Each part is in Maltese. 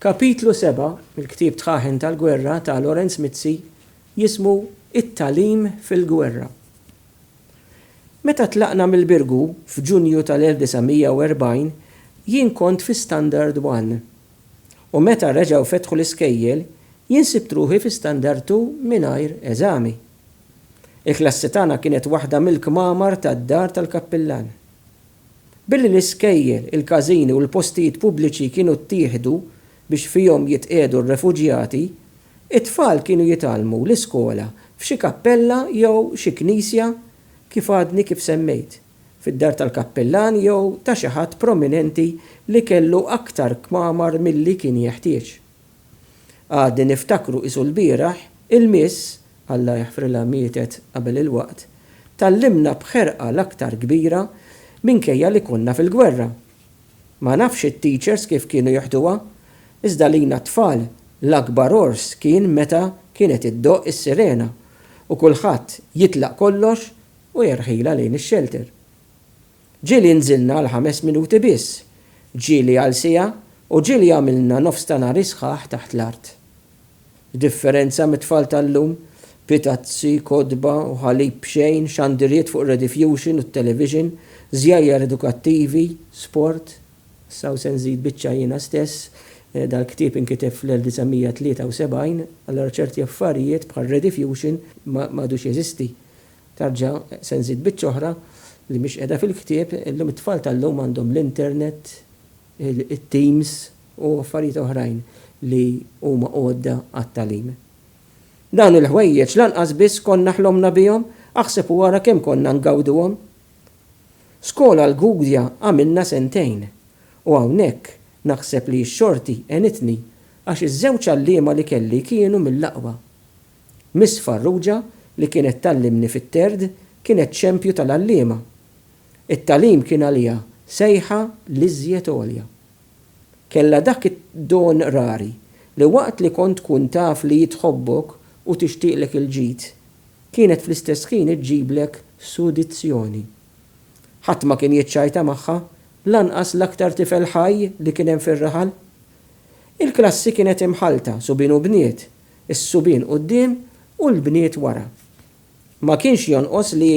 Kapitlu seba' mill-ktieb Tħaħen tal-Gwerra ta' Lawrence Mizzi jismu It-Tagħlim fil-Gwerra. Meta tlaqna mill-Birgu f'Ġunju tal-1940 jien kont fi Standard One u meta reġgħu fetħu l-iskejjel jien sibt ruħi fi Standard Two mingħajr eżami. Il-klassi tagħna kienet waħda mill-kmamar tad-dar tal-kappillan. Billi l-iskejjel, il-każini u l-postijiet pubbliċi kienu ttieħdu biex fihom jitqiegħdu r-refuġjati, it-tfal kienu jitgħallmu l-iskola f'xi kappella jew xi knisja kif għadni kif semmejt, fid-dar tal-kappillan jew ta' xi ħadd prominenti li kellu aktar kmamar milli kien jeħtieġ. Għadni niftakru qisu lbieraħ, il-miss, Alla jaħfrilha mietet qabel il-waqt, tgħallimna b'ħerqa l-aktar kbira minkejja li konna fil-gwerra. Ma nafx it-teachers kif kienu jeħduha, iżda għalina t-tfal l-akbar għors kien meta kienet iddoqq is-sirena u kulħadd jitlaq kollox u jerħilha lejn ix-shelter. Ġieli nżilna għal ħames minuti biss, ġieli għal siegħa u ġieli għamilna nofs ta' nhar isħaħ taħt l-art. F'differenza mit-tfal tal-lum, bi tazzi, kotba u ħalib b'xejn, xandiriet fuq ir-redifjuxin u t-television, żjajjar edukattivi, sport, Issa hawn se nżid biċċa jiena stess, dal-ktieb inkiteb fl-1973, allura ċerti affarijiet bħar-redifjuxin m'għadux jeżisti. Terġa' se nżid biċċa oħra li mhix qiegħda fil-ktieb, illum it-tfal tal-lum għandhom l-internet, it-teams u affarijiet oħrajn li huma għodda għat-tagħlim. Dawn il-ħwejjeġ lanqas biss konna ħlomna bihom, aħseb u ara kemm konna ngawduhom. Skola l-Gudja għamilna sentejn u hawnhekk naħseb li x-xorti għenitni għax iż-żewġ għalliema li kelli kienu mill-aqwa. Miss Farrugia li kienet tgħallimni fit-Third kienet xempju tal-għalliema. It-tagħlim kien għaliha sejħa l-iżjed għolja. Kellha dak id-don rari li waqt li kont tkun taf li hi tħobbok u tixtieqlek il-ġid, kienet fl-istess ħin iġġiblek sudizzjoni. Ħadd ma kien jiċċajta magħha, lanqas l-aktar tifel ħaj li kien hemm fir-raħal. Il-klassi kienet imħallta subien u bniet is-subien quddiem u l-bniet wara. Ma kienx jonqos li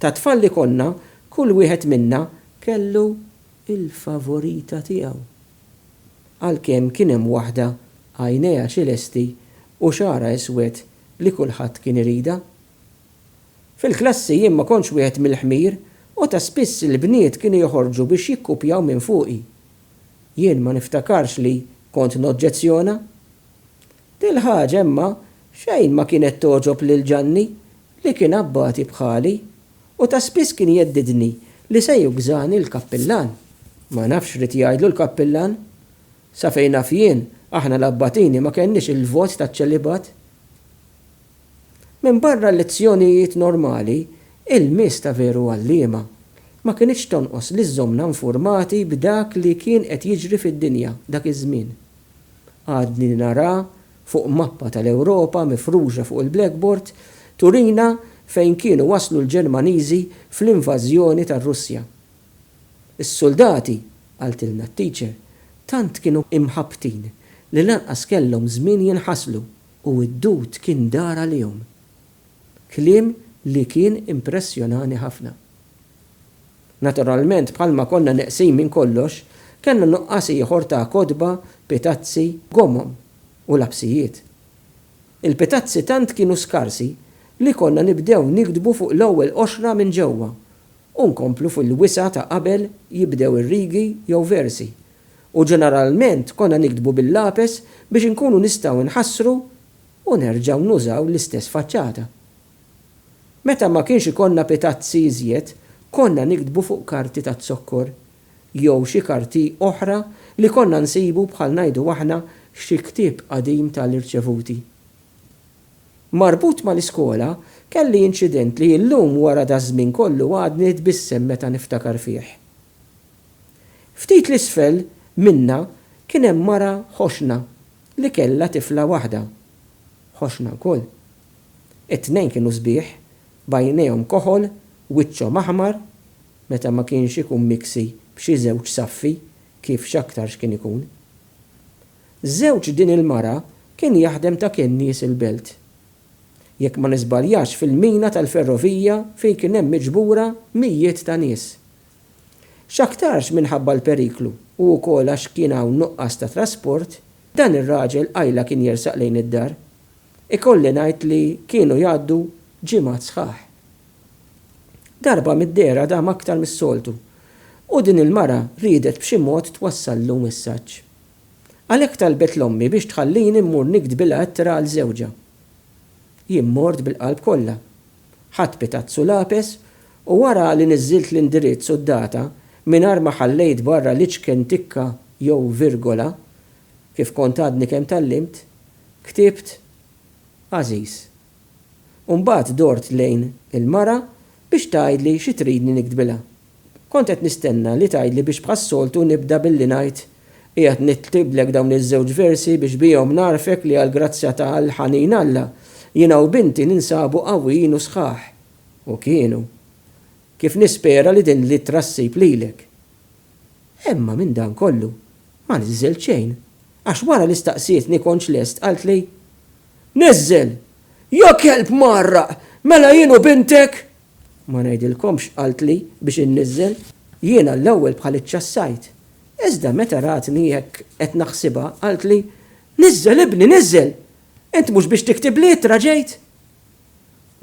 tat-tfal li konna, kull wieħed minna kellu l-favorita tiegħu. Għalkemm kien hemm waħda għajnejha ċilesti u xagħarha iswed li kulħadd kien iridha. Fil-klassi jien ma kontx wieħed mill-ħmir u ta' spiss il-bniet kienu joħorġu biex jikkupjaw minn fuqi. Jien ma niftakarx li kont noġġezzjona. Dil-ħaġa imma xejn ma kienet togħġob lil Ġanni li kien abbati bħali u ta' spiss kien jheddidni li se jugżani l-kappillan. Ma nafx x'ried jgħidlu l-kappillan. Sa fejn naf jien, aħna l-abbatini ma kellniex il-vot taċ-ċelibat. Minbarra l-lezzjonijiet normali, il-miss ta' veru għalliema. Ma kinitx tonqos li żżommna nfurmati b'dak li kien qed jiġri fid-dinja dak iż-żmien. għadni naraha fuq mappa tal-Ewropa mifruxa fuq il-blackboard, turina fejn kienu waslu l-Ġermaniżi fl-invażjoni tar-Russja. Is-suldati, qaltilna t-teacher, tant kienu imħabbtin li lanqas kellhom żmien jinħaslu u d-dud kien dar għalihom. Kliem li kien impressjonani ħafna. Naturalment bħalma konna neqsin minn kollox, kellna nuqqas ieħor ta' kotba, pitazzi, gomom u lapsijiet. Il-pitazzi tant kienu skarsi li konna nibdew niktbu fuq l-ewwel qoxra minn ġewwa u nkomplu fil-wisa' ta' qabel jibdew ir-rigi jew versi u ġeneralment konna niktbu bil-lapes biex inkunu nistgħu nħassru u nerġgħu nużaw l-istess faċċata. Meta ma kienx ikollna pitazzi iżjed, konna niktbu fuq karti taz-zokkor jew xi karti oħra li konna nsibu bħal ngħidu aħna xi ktieb qadim ta' l-irċevuti. Marbut ma' l-iskola, kelli inċident li illum wara daż-żmien kollu għadni nitbissem meta niftakar fih. Ftit 'l isfel minna kien hemm mara ħoxna li kellha tifla waħda, ħoxna lkoll. It-tnejn kienu sbieħ, b'għajnejhom koħol, wiċċhom aħmar, meta ma kienx ikun miksi b'xi żewġ saffi, kif x'aktarx kien ikun. Żewġ din il-mara kien jaħdem ta' kennies il-belt. Jekk ma niżbaljax fil-mina tal-ferrovija fejn kien hemm miġbura mijiet ta' nies, X'aktarx minħabba l-periklu u wkoll għax kien hawn nuqqas ta' trasport, dan ir-raġel qajla kien jersaq lejn id-dar. Ikolli ngħid li kienu jgħaddu ġimgħat sħaħ. Darba mid-dehra dam aktar mis-soltu u din il-mara riedet b'xi mod twassallu messaġġ. Għalhekk talbet 'l ommi biex tħallini mmur niktbilha ittra għal żewġha. Jien mort bil-qalb kollha Ħadt pitazzu lapes u wara li niżżilt l-indirizz u d-data mingħajr ma ħallejt barra l-iċken tikka jew virgola, kif kont għadni kemm tgħallimt, ktibt Għażiż. U mbagħad dort lejn il-mara biex tgħidli xi tridni niktbilha. Kont qed nistenna li tgħidli biex bħas-soltu nibda billi ngħid, Qiegħed niktiblek dawn iż-żewġ versi biex bihom ngħarrfek li għall-grazzja ta' l-ħanin Alla, jiena u binti ninsabu qawwijin u sħaħ. U kienu. Kif nispera li din l-ittra ssib lilek. Emma minn dan kollu, ma niżżelt xejn, għax wara li staqsietni kontx lest qaltli, Niżżel! Jekk kelb mgħarraq, mela jien u bintek! Ma ngħidilkomx qaltli biex inniżżel jiena l-ewwel bħal iċ-ċassajt. Iżda meta ratni hekk qed naħsibha, qaltli, Niżżel, ibni, niżżel! Int mhux biex tiktiblli ittra ġejt?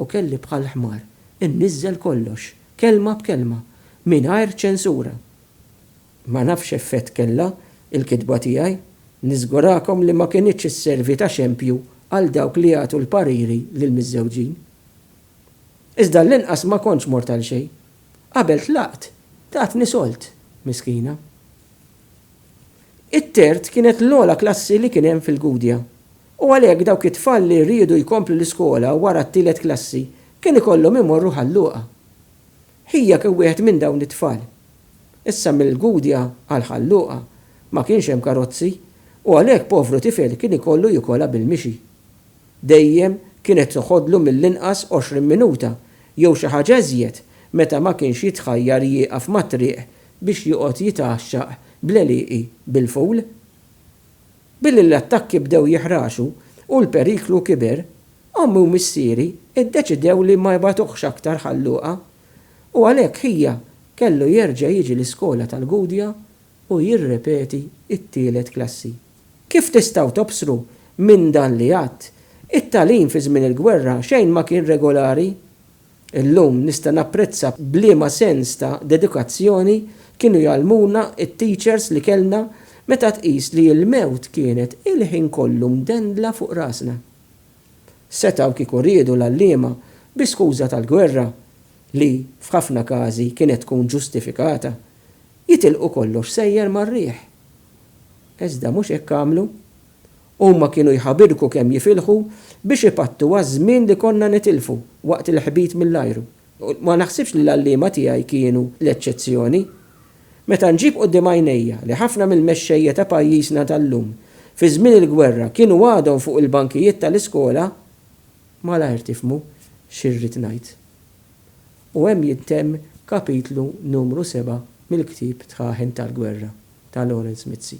U kelli bħal ħmar inniżżel kollox, kelma b'kelma, mingħajr ċensura. Ma nafx x'effett kellha l-kitba tiegħi, niżgurakom li ma kinitx isservi ta' xempju għal dawk li jagħtu l-pariri lill-miżżewġin. Iżda għall-inqas ma kontx mort għal xejn. Qabel tlaqt, tatni solt, miskina. It-Tert kienet l-ogħla klassi li kien hemm fil-Gudja u għalhekk dawk it-tfal li riedu jkomplu l-iskola wara t-tielet klassi kien ikollhom imorru Ħal Luqa. Ħija kien wieħed minn dawn it-tfal. Issa mill-Gudja għal Ħal Luqa ma kienx hemm karozzi u għalhekk povru tifel kien ikollu jikolha bil-mixi. Dejjem kienet toħodlu mill-inqas għoxrin minuta jew xi ħaġa iżjed meta ma kienx jitħajjar jieqaf mat-triq biex joqgħod jitgħaxxaq bl-għelieqi bil-fowl. Billi l-attakki bdew jihraxu u l-periklu kiber, ommi u missieri ddeċidew li ma jbagħtuhx aktar Ħal Luqa u għalhekk ħija kellu jerġa' jiġi l-iskola tal-Gudja u jirrepeti t-tielet klassi. Kif tistgħu tobsru minn dan li għadt, it-tagħlim fi żmien il-gwerra xejn ma kien regolari. Illum nista' napprezza b'liema sens ta' dedikazzjoni kienu jgħallmuna t-teachers li kellna meta tqis li l-mewt kienet il-ħin kollu mdendla fuq rasna. Setgħu kieku riedu l-għalliema bi skuża tal-gwerra, li f'ħafna każi kienet tkun ġustifikata, jitilqu kollox sejjer mar-riħ. Iżda mhux hekk għamlu. Huma kienu jħabirku kemm jifilħu biex ipattu għaż-żmien li konna nitilfu waqt il-ħbit mill-ajru. U ma naħsibx li l-għalliema tiegħi kienu l-eċċezzjoni. Meta nġib quddiem għajnejja li ħafna mill-mexxejja ta' pajjiżna tal-lum, fi żmien il-gwerra kienu għadhom fuq il-bankijiet tal-iskola, malajr tifhmu xi rrid ngħid. u hemm jintemm kapitlu numru seba' mill-ktieb Tħaħen tal-Gwerra ta' Lawrence Mizzi.